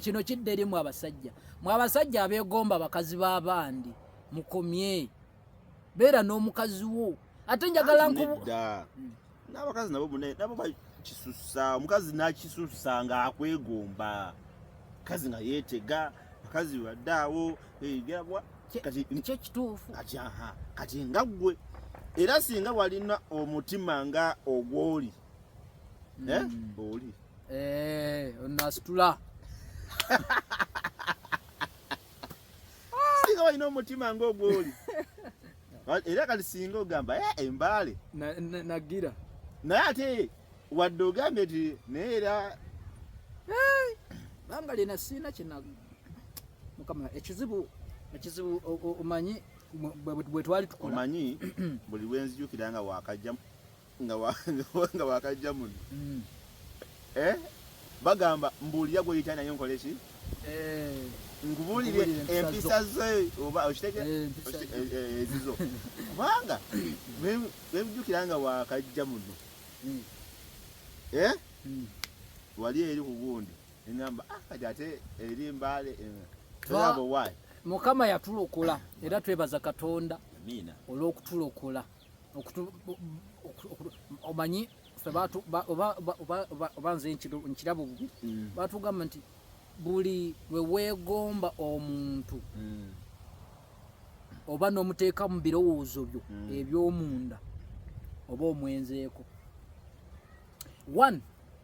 kino kidde eri mwe abasajja mwe abasajja abeegomba bakazi b'abandi mukomye beera n'omukazi wo ate njagala nkubu hmm. n'abakazi nabo mune nabo bakisusa omukazi n'akisusa ng'akwegomba kazi nga yeetega bakazi badde awo egerabwa kyo kituufu kati aha kati nga ggwe era singa walina omutima nga ogwoli mm. eh? Oli eh, onasitula singa walina omutima ng'ogwoli era kati singa ogamba eh, embaale nagira naye ate wadde ogambye nti naye era banga lina siina kina mukama ekizibu ekizibu omanyi bwe twali tukola omanyi buli lwenzijukira nga wakajjamu nga wakajja muno mm. eh? bagamba mbuulira gweyita naye nkole ki eh. nkubuulire empisa ze oba okiteke eh, eh, ezizo kubanga webijukira nga wakajja muno mm. mm. wali eri ku gundi engamba ah, kati ate eri mbaale mukama yatulokola era twebaza katonda olw'okutulokola omanyi oba nze nkirabo bubi mm. batugamba nti buli weweegomba omuntu mm. oba nomuteeka mu birowoozo byo mm. ebyomunda oba omwenzeeko one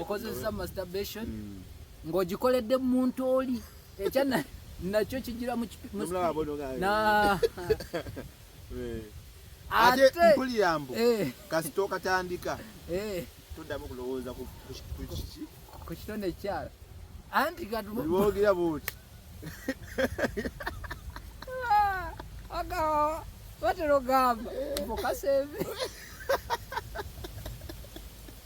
okozesa masturbation mm. ng'ogikoledde mu muntu oli ekya nakyo kigira mu eh. ate mpulira mbu eh. kasita okatandika eh. toddamu kulowooza ku kitone ekyala anti katubogera buti agawa batera ogamba mukaseve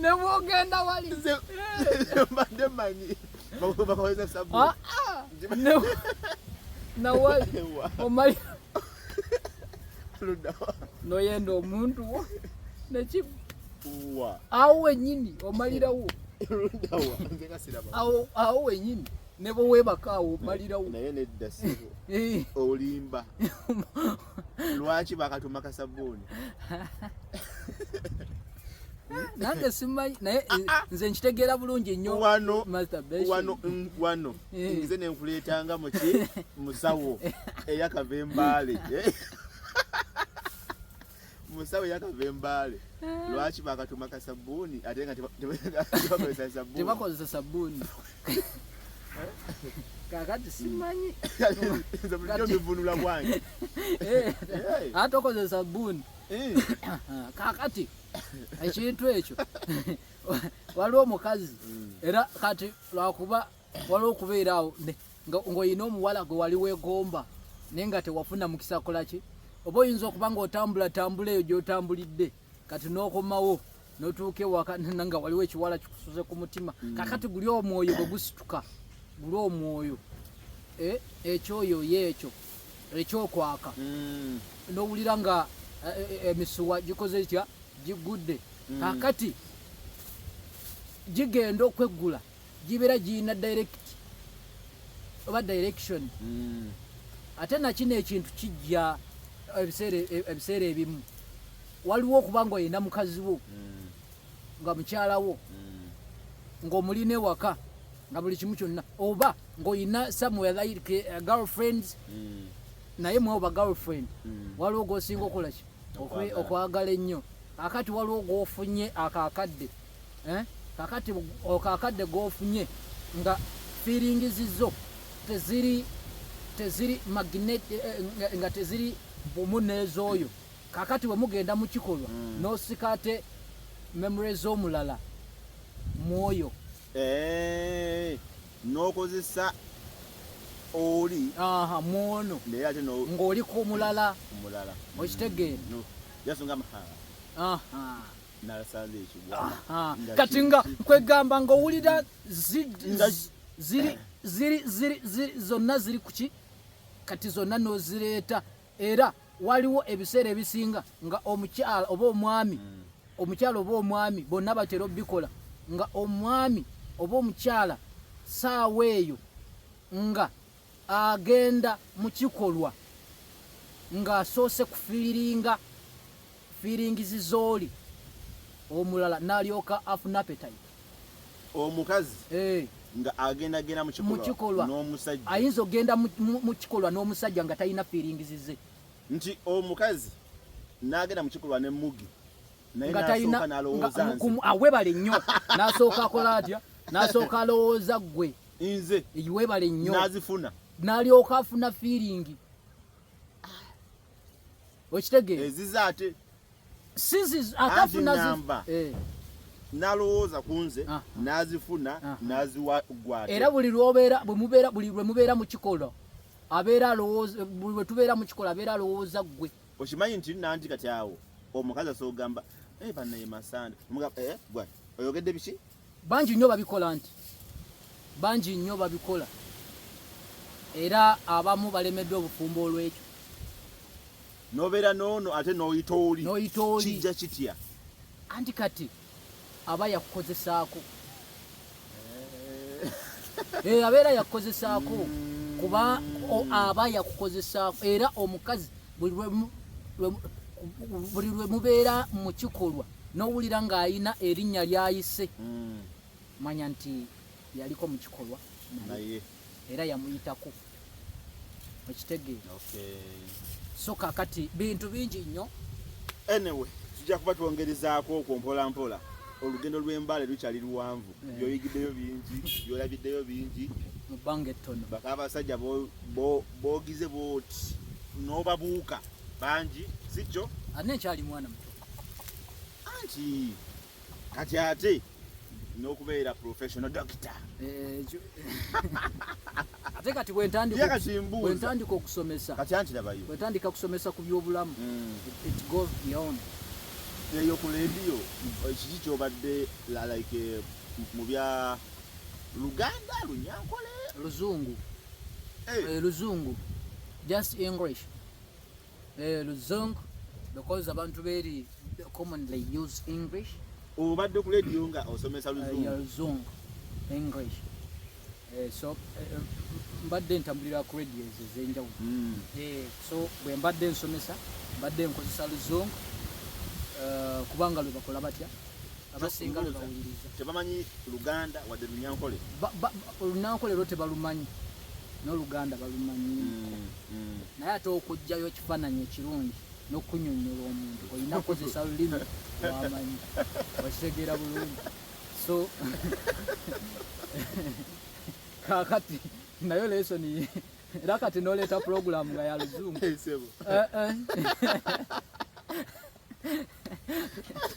nebwogenda walimbadde manyi bakozesa sabu ah, ah. nawali omali noyenda omuntu wo nekimu awo wenyini omalirawo awo wenyini ne bwe weebaka awo omalirawo naye nedda sebo eh. olimba lwaki bakatuma kasabbuuni nange simanyi naye ah, ah. nze nkitegeera bulungi nnyo wano eh. nze nenkuleetanga muki musawo eyakava embaale eh. musawo yakava embaale ah. lwaki bakatuma kasabbuuni ate nga tebakozesa sabbuuni tebakozesa sabbuuni kakati simanyi bulijjo bivunula bwange eh, eh. ate okozesa sabbuuni eh. kakati ekintu ekyo waliwo omukazi mm. era kati lwakuba waliwo okubeera awo ng'olina omuwala gwe wali weegomba naye nga tewafuna mukisa kolaki oba oyinza okuba ng'otambula tambula eyo gy'otambulidde kati n'okomawo n'otuuka ewaka nga waliwo ekiwala kikusuze ku mutima mm. kakati guli omwoyo bwe gusituka guli omwoyo e, ekyoyo ye ekyo ekyokwaka mm. n'owulira nga e, e, emisuwa gikoze etya giggudde mm. kakati gigenda okweggula gibera giyina direct oba direction mm. ate nakino ekintu kijja ebiseera ebimu waliwo okuba nga oyina mukazi wo mm. nga mukyala wo mm. ngaomulina ewaka nga buli kimu kyonna oba ngaoyina somewhere like uh, girlfriends naye mwe oba girlfriend waliwo gosinga okolaki okwagala ennyo akati waliwo gwofunye akakadde eh? kakati okakadde gofunye nga feeling zizo teziri teziri magnet eh, eh, nga teziri bumu nezoyo kakati wemugenda mukikolwa mm. nosikate memory zomulala mwoyo eh, nokozesa oli aha mwono naye ate no ngoli ku mulala mulala okitegeera no yasonga mahala aha kati nga kwegamba nga owulira zonna ziri kuki kati zonna nozireeta era waliwo ebiseera ebisinga nga omukyala oba omwami hmm. omukyala oba omwami bonna batera obikola nga omwami oba omukyala saawa eyo nga agenda mu kikolwa ng'asoose kufiiringa feelings zoli omulala nalyoka afuna appetite omukazi eh nga agenda genda mu kikolwa n'omusajja ayinza ogenda mu kikolwa n'omusajja nga talina feelings ze nti omukazi n'agenda mu kikolwa ne mugi naye nasooka nalowooza nze awebale nnyo nasooka akola atya nasooka alowooza ggwe nze webale nnyo nazifuna nalyoka afuna feeling okitegeera eziza ate sizizakafunanamba eh. nalowooza ku nze ah. nazifuna ah. naziwa gwate era buli lwobeera bwemubeera buli lwemubeera mu kikolo abeera alowooza buli lwetubeera mu kikolo abeera alowooza ggwe okimanyi nti nanti kati awo omukazi asoogamba eh, banaye masande eh, oyogedde biki bangi nnyo babikola nti bangi nnyo babikola era abamu balemeddwa obufumbo olwekyo nobeera noono ate noyita oli noyita oli kijja kitya anti kati aba yakukozesaako eh. eh, abeera yakukozesaako hmm. kuba aba yakukozesaako era omukazi buli lwe mubeera mu kikolwa nowulira ng'alina erinnya lyayise mm. manya nti yaliko mu kikolwa naye era yamuyitako okitegeera so kakati bintu bingi nnyo anyway tujja kuba twongerezaako okwo mpola mpola olugendo lw'embale lukyali luwanvu eh. byoyigiddeyo bingi byolabiddeyo bingi mu bbanga ettono baka abasajja bogize booti n'obabuuka bangi si kyo ate nkyali mwana muto anti kati ate n'okubeera professional doctor eh, ate kati bwentandika okusomesa kati anti labayo bwentandika kusomesa ku byobulamu mm. it goes beyond eyo ku leediyo eh, kiki kyobadde like eh, mu bya luganda lunyankole luzungu luzungu just english eh, luzungu because abantu beri commonly use english obadde ku radio nga osomesa luzungu eh, luzungu english eh, so mbadde ntambulira ku radio ezo ezenjawulo hmm. so bwe mbadde nsomesa mbadde nkozesa luzungu kubanga lwe bakola batya abasinga lwebawuliriza tebamanyi luganda wadde lunyankole olunankole lwo tebalumanyi n'oluganda balumanyi mm, mm. naye ate okugjayo ekifaananyi ekirungi n'okunyonyola omuntu olina kukozesa lulimi wamanyi okitegeera bulungi so kakati nayo lesoni era kati noleeta pulogulamu nga yaluzungu